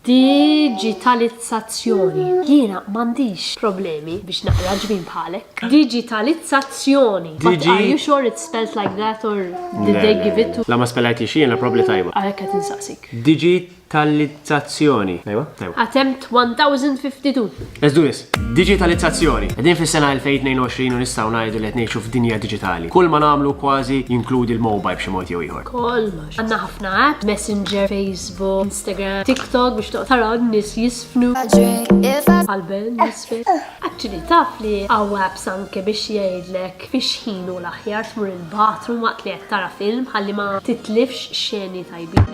Diġitalizzazzjoni, Jiena m'għandix problemi biex naqra ġbin bħalek. Diġitalizzazzjoni, But are you sure it's spelt like that or did they give it to. La ma spellajtix jiena, probably tajba. Għalhekk qed insaqsik. Diġitalizzazzjoni. Tajba? Tajba. Attempt 1052. Let's do this. Diġitalizzazzjoni. Qegħdin fis-sena 2022 u nistgħu ngħidu li qed ngħixu f'dinja diġitali. Kull ma nagħmlu kważi jinkludi l-mobile b'xi mod jew ieħor. Kull ma Għanna ħafna app, Messenger, Facebook, Instagram, TikTok biex toqtara nis jisfnu. Għalben, nisfe. Actually, taf li għaw apps anke biex jgħidlek biex ħinu l-aħjar tmur il-bathroom waqt li qed tara film ħalli ma titlifx xeni tajbi.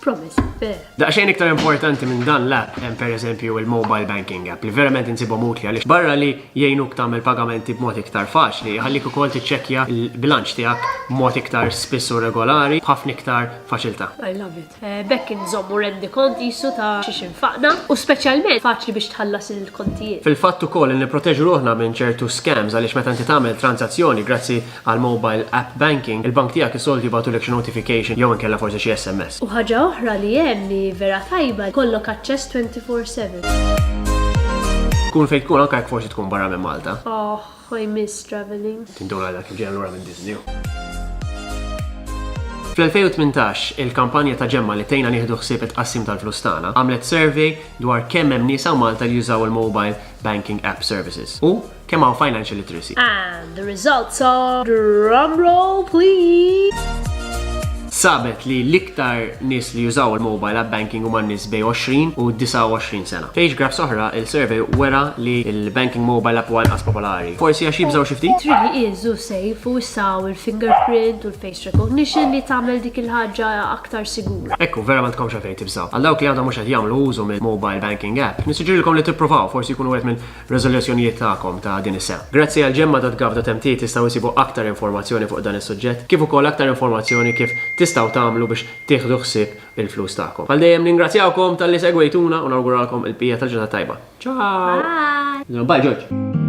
Promise, fair. Daqxejn iktar importanti minn dan l-app hemm pereżempju il-mobile banking app li verament insibhom utli għaliex barra li jgħinuk tagħmel pagamenti b'mod iktar faċli, jħallik ukoll tiċċekkja l-bilanċ tiegħek b'mod iktar spiss u regolari b'ħafna iktar faċiltà. I love it. B'hekk inżommu rendikont qisu ta' xiex infaqna u speċjalment faċli biex tħallas il-kontijiet. Fil-fatt ukoll li nipproteġu ruħna minn ċertu scams għaliex meta inti tagħmel tranżazzjoni grazzi Għall-mobile app banking, il-bank tiegħek is-soltu jibgħatulek xi notification jew inkella forsi xi SMS. U ħaġa oħra li hemm li vera tajba, jkollok aċċess twenty four seven. Tkun fejn tkun anke jekk forsi tkun barra minn Malta. Oh, I miss traveling. Tindur għadha kif ġejja lura minn Disney. Fl-2018, il-kampanja ta' ġemma li tejna nieħdu ħsieb it-qassim tal-flus tagħna għamlet survey dwar kemm hemm nisa Malta li jużaw il-mobile banking app services. U Kemm hawn financial literacy? And the results are drum roll please. Sabet li l-iktar nis li jużaw il-mobile app banking huma nis bej 20 u 29 sena. Fejx graf soħra, il-survey wera li il-banking mobile app huwa inqas popolari. Forsi għax jibżaw xi ftit? Trid li iżu sejf u jsaw il-fingerprint u l-face recognition li tagħmel dik il-ħaġa aktar sigura. Ekku, vera ma tkomx għalfejn tibżaw. Għal dawk li għadhom mhux qed jagħmlu użu mill-mobile banking app, nissuġġerilkom li tippruvaw, forsi jkunu wieħed minn f'riżoluzzjonijiet tagħkom ta' din is-sena. Grazzi għal Gemma.gov.mt tistgħu issibu aktar informazzjoni fuq dan is-suġġett kif ukoll aktar informazzjoni kif tistgħu tagħmlu biex tieħdu ħsieb il-flus tagħkom. Bħal dejjem ningrazzjawkom talli segwejtuna u nawguralkom il-bqija tal-ġurnata tajba. Ciao! Bye! Bye George!